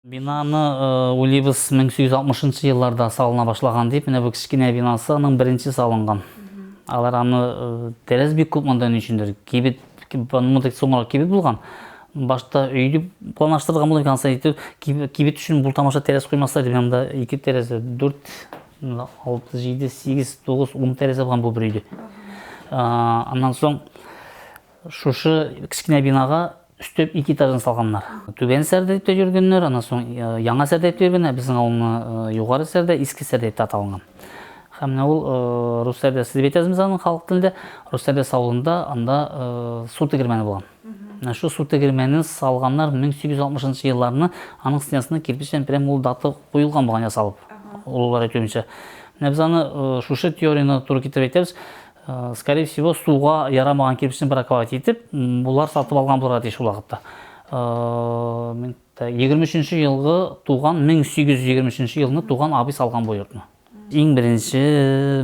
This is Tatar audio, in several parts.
Бинаны уйлыйбыз, 1160 нчы елларда салына башлаган дип, менә бу кечкенә бинасы аның беренче салынган. Алар аны тәрәз бик күп монда ни өчендер. Кибет, монда соңрак кибет булган. Башта өй дип планлаштырылган булып икән, итеп кибет өчен бу тамаша тәрәз куймаслар дип, монда ике тәрәзә, 4, 6, 7, 8, 9, 10 тәрәзә булган бу бер өйдә. Аннан соң Шушы кечкенә бинага өстәп ике этажын салганнар. Түбән Сәрдәйптә йөргәннәр, аннан соң Яңа Сәрдәйптә йөргән, ә безнең авылны Югары Сәрдәй, Иске Сәрдәй дип аталган. Һәм менә ул Рус Сәрдәсе дип әйтәбез без аны халык телендә. Рус Сәрдәсе авылында анда су тегермәне булган. Менә шу су тегермәнен салганнар 1860 елларны, аның стенасына кирпечтән прям ул дата куелган булган ясалып, олылар әйтүенчә. Менә без аны шушы теорияне туры китереп әйтәбез. Скорее всего, суга ярамаган кирпичне браковать итеп, булар сатып алган булырга тиеш ул вакытта. 23 елгы туган 1823 елны туган абый салган бу йортны иң беренче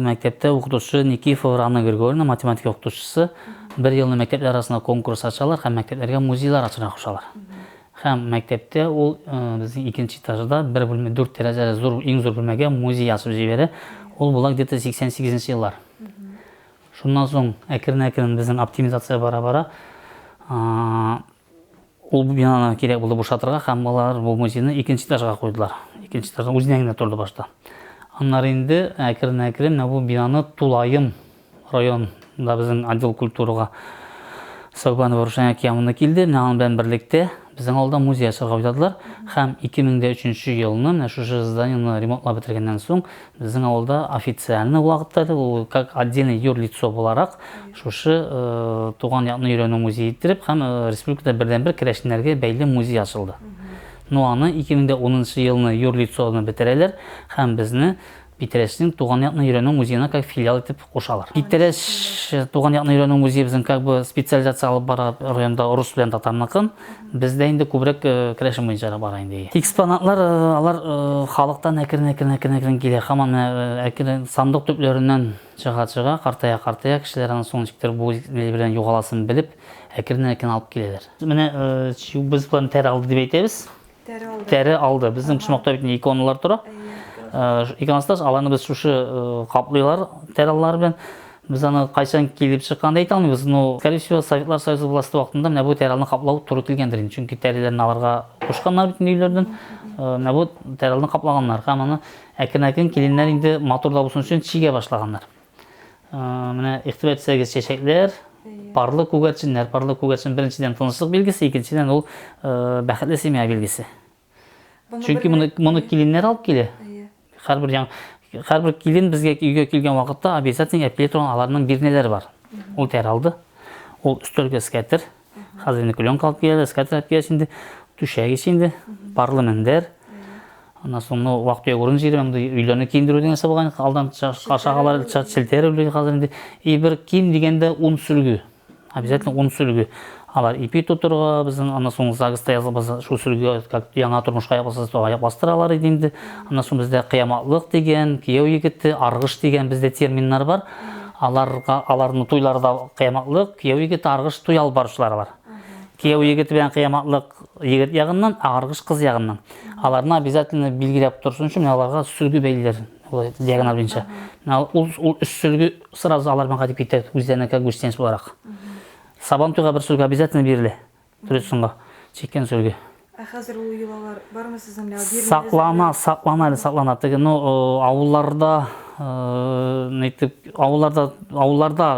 мәктәптә укытучы никифов рана григорьевна математика укытучысы бер елны мәктәпләр арасында конкурс ачалар һәм мәктәпләргә музейлар ачарга кушалар Һәм мәктәптә ул безнең икенче этажда бер бүлмә, дүрт тәрәзәле зур, иң зур бүлмәгә музей ачып җибәрә. Ул була где-то 88 нче еллар. Шуннан соң әкрен-әкрен безнең оптимизация бара-бара ул бинаны кирәк булды бушатырга һәм алар бу музейны икенче этажга куйдылар. Икенче этажда үзенә генә торды башта. Аннары инде әкрен-әкрен менә бу бинаны тулаем Районда безнең отдел культурага Согбанова Рушания Киямовна килде. Менә аның белән берлектә безнең авылда музей ачарга уйладылар. Һәм 2003 елны менә шушы зданиены ремонтлап бетергәннән соң безнең авылда официальный вакытта да ул как отдельный юрлицо буларак шушы туган якны өйрәнү музее иттереп һәм республикада бердәнбер керәшеннәргә бәйле музей ачылды. Ну аны 2010 елны юрлицоны бетерәләр һәм безне Питрәчнең Туган якны өйрәнү музеена как филиал итеп кушалар. Питрәч Туган якны өйрәнү музее безнең как бы специализация алып бара районда рус белән татарныкын. Бездә инде күбрәк керәшен буенча да бара инде. Экспонатлар алар халыктан әкрен әкрен әкрен әкрен килә. Һаман әкрен сандык төпләреннән чыга чыга, картая картая кешеләр аны соң ничектер бу ил белән югаласын белеп әкреннән әкрен алып киләләр. Менә чү без плантера алды дип әйтәбез. Тәре алды. Тәре алды. Безнең почмакта бит иконалар тора. Иконостас аларны без шушы каплыйлар тәре аллары белән Без аны кайчан килеп чыкканын әйтә алмыйбыз, но, скорее всего, Советлар Союзы власты вакытында менә бу тәрәлне каплау туры килгәндер инде, чөнки тәреләрне аларга кушканнар бит өйләрдән, э, менә бу тәрәлне каплаганнар һәм аны әкрен-әкрен киленнәр инде матур да булсын өчен чигә башлаганнар. Менә игътибар итсәгез, чәчәкләр, парлы күгәрченнәр. Парлы күгәрчен беренчедән тынычлык билгесе, икенчедән ул бәхетле семья билгесе. Чөнки моны моны киленнәр алып килә. Һәрбер яң һәрбер килен безгә өйгә килгән вакытта обязательно әпкиле торган аларның бирнәләре бар. Ул тәр алды. Ул өстәлгә скәтер. Хәзер инде клёнка алып киләләр, скатерть алып киләләр инде, түшәк ич инде, парлы мендәр. Аннан соң ну вак төяк урын җыйдым, инде өйләрне киендерү дигән нәрсә булган, алдан ашагалар челтәр үле хәзер инде. И бер ким дигәндә ун сөлге. Обязательно ун сөлге. Алар ипи тутырга, безнең аннан соң загыста язылбыз, шул сөлге как яңа тормышка япасыз, то аяк бастыралар иде инде. Аннан соң бездә кыяматлык дигән, кияү егете, аргыш дигән бездә терминнар бар. Аларга аларның туйлары да кыяматлык, кияү егет аргыш туй алып баручылар алар. Кияү егет белән кыяматлык егет ягыннан, аргыш кыз ягыннан. Аларны обязательно билгеләп торсын өчен менә аларга сөлге бәйлиләр. Диагональ буенча. Менә ул ул өч сөлге сразу алар белән кайтып китә үзләренеке гостиниц буларак. Сабан туйга бер сөлге обязательно бирелә. Трюсынга чиккән сөлге. Ә хәзер ул йолалар бармы сезнең менә бирмә? Саклана, саклана әле саклана. Теге, ну, авылларда, нитеп, авылларда, авылларда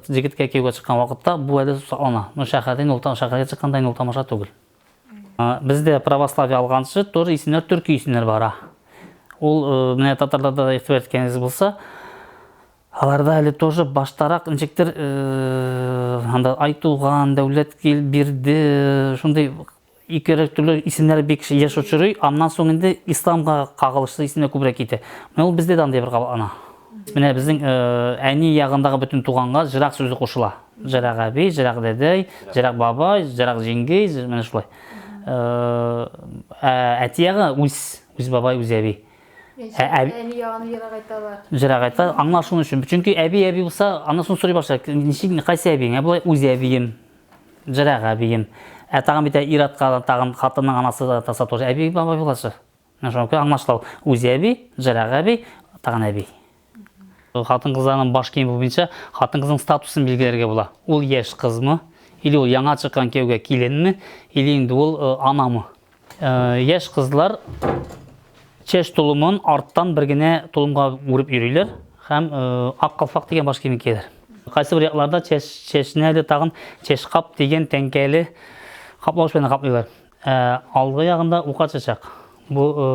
җегеткә кияүгә чыккан вакытта бу әле саклана. Ну, шәһәрдә инде ул тагын шәһәргә чыкканда инде ул тамаша түгел. Бездә православие алганчы тоже исемнәр төрки исемнәр бара. Ул менә татарларда да игътибар иткәнегез булса, Аларда әле тоже баштарак ничектер анда Айтуган, Дәүләткил, Бирде, шундый ике төрле исемнәр бик еш очрый, аннан соң инде исламга кагылышлы исемнәр күбрәк китә. Менә ул бездә дә андый бер кабатлана. Менә безнең әни ягындагы бөтен туганга җырак сүзе кушыла. Җырак әби, җырак дәдәй, җырак бабай, җырак җиңги, менә шулай. Ә әти ягы үз, үз бабай, үз әби. Ә, ә, әни ягын ерак айталар. Ерак айталар. Аңлар шуның өчен. Чөнки әби әби булса, аны соң сорый башлар. Ничек кайсы әбиең? Ә болай үз әбием. Ерак әбием. Ә тагын бит ир-атка тагын хатынның анасы да таса тоже әби бабай буласы. Менә шуңа күрә аңлашылау. Үз әби, ерак әби, тагын әби. Хатын кызларның баш киеме буенча хатын кызның статусын билгеләргә була. Ул яшь кызмы, или ул яңа чыккан кияүгә киленме, или инде ул э, анамы. Э, яшь кызлар чәч тулымын арттан бер генә тулымга үреп йөриләр һәм э, ак калфак дигән баш киемен кияләр. Кайсы бер якларда чәч чәчне әле тагын чәчкап дигән тәңкәле каплавыч белән каплыйлар. Ә алгы ягында ука чәчәк. Бу э,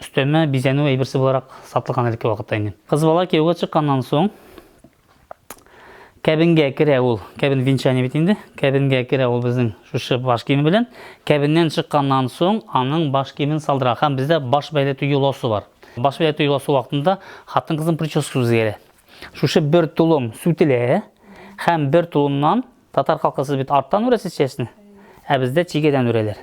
өстәмә бизәнү әйберсе буларак сатылган әлеге вакытта инде. Кыз бала кияүгә чыкканнан соң кәбенгә керә ул. Кәбен венчание бит инде. Кәбенгә керә ул безнең шушы баш киеме белән. Кәбеннән чыкканнан соң аның баш киемен салдыра. Һәм бездә баш бәйләтү юлосы бар. Баш бәйләтү юлосы вакытында хатын-кызның прическасы үзгәрә. Шушы бер тулым сүтелә һәм бер тулымнан Татар халкы сез бит арттан үрәсез чәчне, ә бездә чигәдән үрәләр.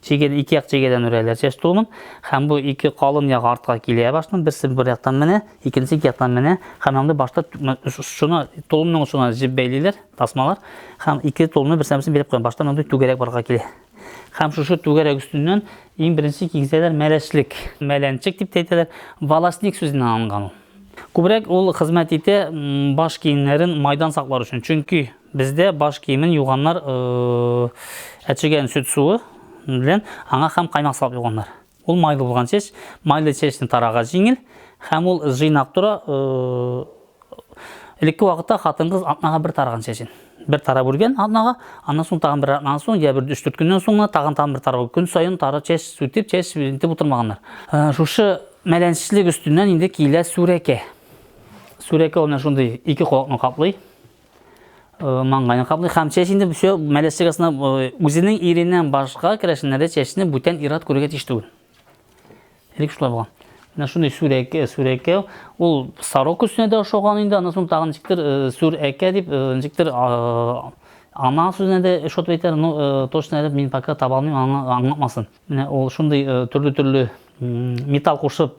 Чигәдә ике як чигәдән үрәләр чәч тулымын, һәм бу ике калын як артка килә башның, берсе бер яктан менә, икенче ике яктан менә, һәм анда башта шуны тулымның шуна җеп бәйлиләр, тасмалар, һәм ике тулны берсенә-берсе бәйләп куя. Башта мондый түгәрәк барга килә. Һәм шушы түгәрәк өстеннән иң беренче киңсәләр мәләчлек, мәләнчек дип тә әйтәләр, волосник сүзеннән алынган ул. Күбрәк ул хезмәт итә баш киемнәрен майдан саклар өчен. Чөнки бездә баш киемен юганнар әчегән сөт суы белән аңа һәм каймак салып юганнар. Ул майлы булган чәч, майлы чәчне тарага җиңел һәм ул җыйнак тора. Элекке вакытта хатын-кыз атнага бер тараган чәчен бер тарап үлгән атнага, аннан соң тагын бер атнадан соң, я бер 3-4 көннән соң тагын тагын бер тарау. Көн саен тары чәч сүтеп, чәч интеп утырмаганнар. Ә, шушы мәләнчлек өстеннән инде килә сүрәкә. Сүрәкә ул менә шундый ике колакны каплый. маңгайны каплый һәм чәч инде все мәләс чыгасына үзенең иреннән башка керәшеннәре чәчне бүтән ират күрергә тиеш түгел элек шулай булган менә шундый сүрәкә сүрәкә ул сарок өстенә дә ошаган инде аннан соң тагын ничектер сүрәкә дип ничектер ана сүзенә дә ошатып әйтәләр но точно әле мин пока таба алмыйм аңлатмасын менә ул шундый төрле төрле металл кушып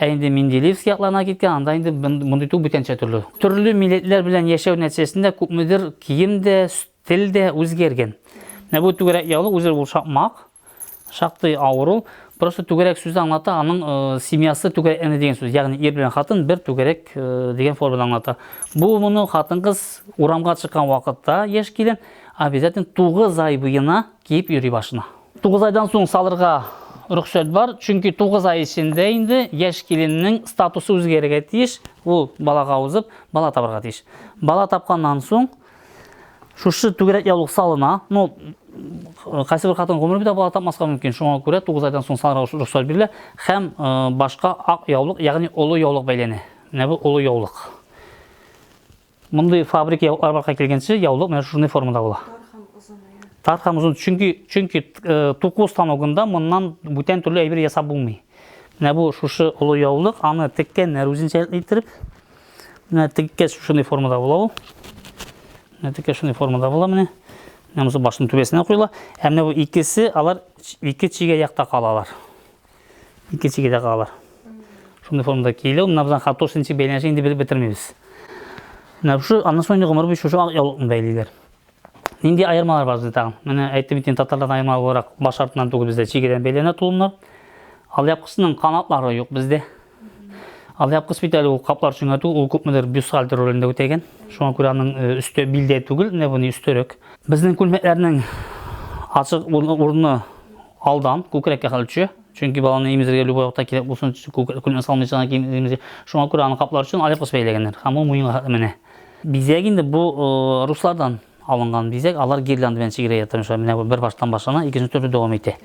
Ә инде Менделеевск якларына киткән, анда инде мондый тук бүтәнчә төрле. Төрле милләтләр белән яшәү нәтиҗәсендә күпмедер кием дә, тел дә үзгәргән. Менә бу түгәрәк яулык үзе ул шакмак, шактый авыр ул. Просто түгәрәк сүзе аңлата, аның э, семьясы түгәрәк әне дигән сүз. Ягъни ир белән хатын бер түгәрәк э, дигән форманы аңлата. Бу моны хатын-кыз урамга чыккан вакытта яшь килен обязательно 9 ай буена Киеп йөри башына. Тугыз айдан соң салырга рөхсәт бар, чөнки тугыз ай эчендә инде яшь киленнең статусы үзгәрергә тиеш, ул балага узып, бала табарга тиеш. Бала тапканнан соң шушы түгәрәк яулык салына, ну, кайсы бер хатын гомер бетә бала тапмаска мөмкин, шуңа күрә тугыз айдан соң салырга рөхсәт бирелә һәм э, башка ак яулык, ягъни олы яулык бәйләнә. Менә бу олы яулык. Мондый фабрик яулыклар барлыкка килгәнче яулык менә шушындай формада була. Тар һәм озын. Чөнки чөнки э, туку станогында моннан бүтән төрле әйбер ясап булмый. Менә бу шушы олы яулык, аны теккәннәр үзенчә иттереп. Менә теккә шушындай формада була ул. Менә теккә шушындай формада була менә. Менә мосы башның түбәсенә куела. Ә менә бу икесе алар ике чигә якта калалар. Икенчеге дә калыр. Шундый формада киелә. Менә безнең хатошничек бәйләнеше инде белеп бетермибез. Менә шушы аннан соң инде гомер буе шушы ак яулыкны бәйлиләр. Нинди аермалар бар бездә тагын? Менә әйтеп бит татарлардан аерма буларак баш артыннан түгел бездә чигедән бәйләнә тулымнар. Алъяпкысының канатлары юк бездә. Алъяп кыз бит әле ул каплар чүңәтү, ул күпмедер бюстгальтер ролендә үтәгән. Шуңа күрә аның э, өсте билдә түгел, менә бу өстөрәк. Безнең күлмәкләрнең ачык урыны алдан күкрәккә хәл төшә. Чөнки баланы имезергә любой вакытта кирәк булсын, күлмәк салмыйча гына киемизер. Шуңа күрә аны каплар өчен алъяп кыз бәйләгәннәр. Һәм ул муенга хәтле менә. Бизәк инде бу э, руслардан алынган бизәк. Алар гирлянда белән чигерә ятырмышлар. Менә бер баштан башлана, икенче төрле дәвам итә.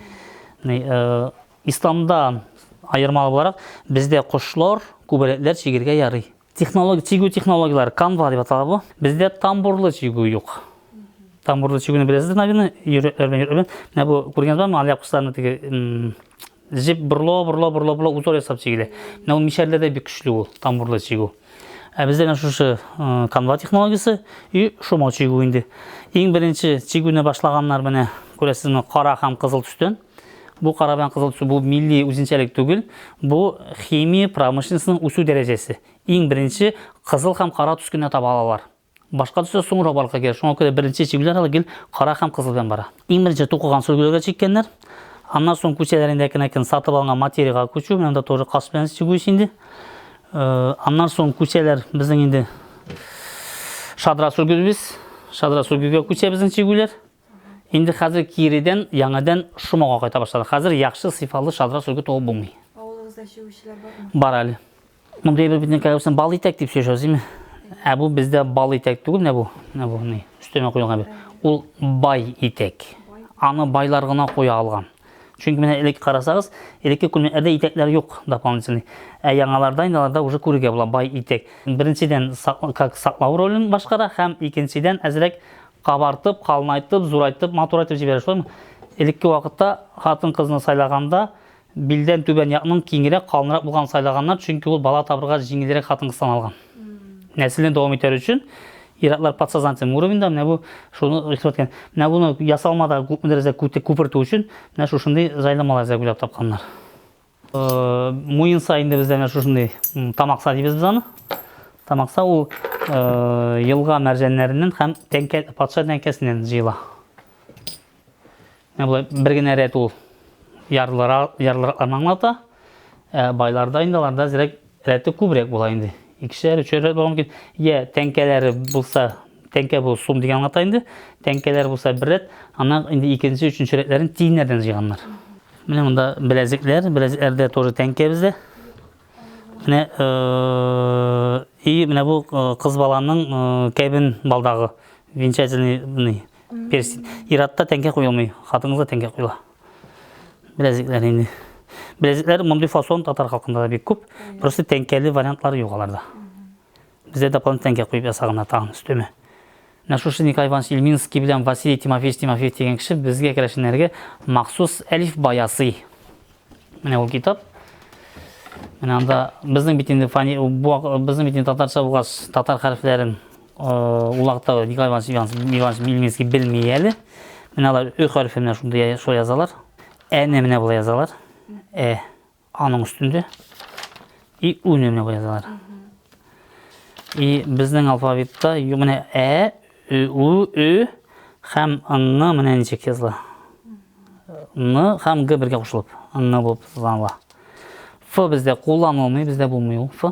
Э, Исламда аерма буларак, бездә кошлар, күбәләкләр чигергә ярый. Технология, чигү технологияләре, канва дип атала бу. Бездә тамбурлы чигү юк. Тамбурлы чигүне беләсездер, наверное, йөрермен, йөрермен. Менә бу күргәнегез бармы, алия кошларны теге җеп бурло, бурло, бурло, бурло узор ясап чигелә. Менә ул мишәрләрдә бик көчле ул тамбурлы чигү. Ә бездә менә шушы канва технологиясе и шома чигү инде. Иң беренче чигүне башлаганнар менә күрәсезме, кара һәм кызыл төстән. Бу кара белән кызыл төсү бу милли үзенчәлек түгел, бу химия промышленностеның үсү дәрәҗәсе. Иң беренче кызыл һәм кара төс кенә таба алалар. Башка төсләр соңрак барлыкка килә, шуңа күрә беренче чигүләр әле гел кара һәм кызыл белән бара. Иң беренче тукыган сөлгеләргә чиккәннәр, аннан соң күчәләрендә кенә кен сатып алынган материягә күчү, менә монда тоже кас белән чигү инде. Аннан соң күчәләр безнең инде шадра сөлгебез, шадра сөлгегә күчә безнең чигүләр. Инде хәзер киредән яңадан Шомага кайта башлады. Хәзер яхшы сыйфалы шадра сөлге туып булмый. Авылыгызда чигүчеләр бармы? Бар әле. Мондый әйбер бит нәкәләүсен бал итәк дип сөйләшәбез, димме? Ә бу бездә бал итәк түгел, менә бу. Менә бу ни? Өстенә куелган бит. Ул бай итәк. Аны байлар гына куя алган. Чөнки менә элек карасагыз, элекке күлмәкләрдә итәкләр юк дополнительный. Ә яңаларда инде аларда уже күрергә була бай итәк. Беренчедән, как саклау ролен башкара һәм икенчедән әзрәк Кабартып, калынайтып, зурайтып, матурайтып җибәрә, шулаймы? Элекке вакытта хатын-кызны сайлаганда билдән түбән якның киңрәк, калынрак булган сайлаганнар, чөнки ул бала табырга җиңелрәк хатын-кыз саналган. Нәселне дәвам итәр өчен ир-атлар подсознательный уровеньда менә бу шуны игътибар иткән. Менә буны ясалмада күп дәрәҗәдә күпертү өчен менә шушындый җайламалар эзләп уйлап тапканнар. Муенса инде бездә менә шушындый тамакса дибез без аны. Тамакса ул елга мәрҗәннәреннән һәм тәңкә патша тәңкәсеннән җыела. Менә болай бер генә рәт ул ярлыра ярлыракларны аңлата. Байларда инде аларда зирәк Рәте күбрәк була инде. Икешәр, өчәр рәт булган мөмкин. Йә тәңкәләре булса, тәңкә бу сум дигән аңлата инде. Тәңкәләр булса бер рәт, аннан инде икенче, өченче рәтләрен тиеннәрдән җыйганнар. Менә монда беләзекләр, беләзекләрдә тоже тәңкә бездә. Менә и менә бу кыз баланың кәбен балдагы венчательный перстень. Иратта тәңкә куелмый, хатынга тәңкә куела. Беләзекләр инде. Беләзекләр мондый фасон татар халкында да бик күп. Просто тәңкәле вариантлары юк аларда. Бездә дополнительно тәңкә куеп ясаганнар тагын өстеме. Менә шушы Николай Иванович Ильминский белән Василий Тимофеевич Тимофеев дигән кеше безгә керәшеннәргә махсус әлиф баясый. Менә ул китап. Менә анда безнең бит инде фани бу безнең бит инде татарча булгач татар хәрефләрен Ул хакта Николай Иванович Мельницкий белми әле. Менә алар ө хәрефе менә шундый шулай язалар. Әне менә болай язалар. Ә аның өстендә. И үне менә болай язалар. И безнең алфавитта менә ә, ө, у, ө һәм ны менә ничек языла. Ны һәм г бергә кушылып, ны булып языла. Ф бездә кулланылмый, бездә булмый ул ф.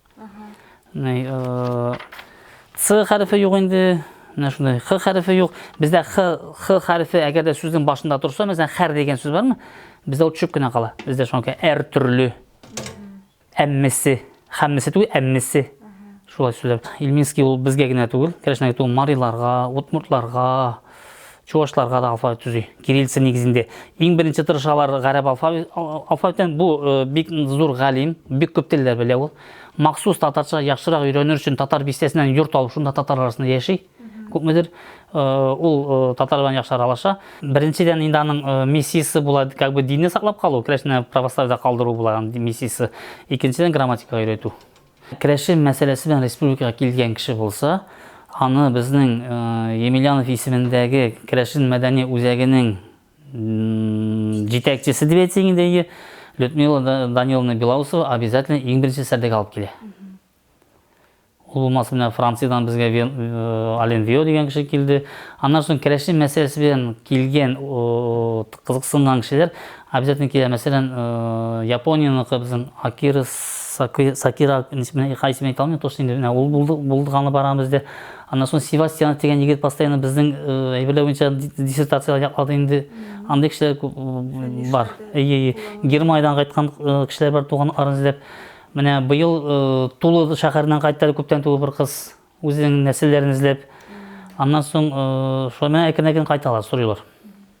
Ц хәрефе юк инде. Менә шундай х хәрефе юк. Бездә х х хәрефе әгәр дә сүзнең башында торса, мәсәлән, хәр дигән сүз бармы? Бездә ул төшеп кенә кала. Бездә шуңа әр төрле. Әммесе, хәммесе түгел, әммесе. Шулай сүзләр. Ильминский ул безгә генә түгел, Кәләшнәгә түгел, мариларга, удмуртларга, чувашларга да алфавит төзи кириллица нигезендә иң беренче тырышалар гарәп алфавитен бу э, бик зур галим бик күп телләр белә ул махсус татарча яхшырак өйрәнер өчен татар бистәсеннән йорт алып шунда татар арасында яши күпмедер э, ул э, татар белән яхшы аралаша беренчедән инде аның миссиясе була как бы динне саклап калу керәшеннән православиедә калдыру була миссиясе икенчедән грамматика өйрәтү Керәшен мәсьәләсе белән республикага килгән кеше булса, аны безнең Емельянов исемендәге керәшен мәдәни үзәгенең җитәкчесе дип әйтсәң инде, Людмила Даниловна Белоусова обязательно иң беренче сәрдәгә алып килә. Ул булмаса менә Франциядән безгә Ален Вио дигән кеше килде. Аннан соң керәшен мәсьәләсе белән килгән кызыксынган кешеләр Обязательно килә, мәсәлән, э, Японияныкы безнең Акира Сакира исемен кай исемен әйтә алмыйм, то инде менә ул булды, булдыганы барган бездә. Аннан соң Севастьянов дигән егет постоянно безнең э, әйберләр буенча диссертацияләр яклады инде. Андый кешеләр э, бар. Әйе, Германиядән кайткан кешеләр бар туган арын эзләп. Менә быел Тулы шәһәреннән кайтты күптән түгел бер кыз үзенең нәселләрен эзләп. Аннан соң шулай әкрен-әкрен кайталар, сорыйлар.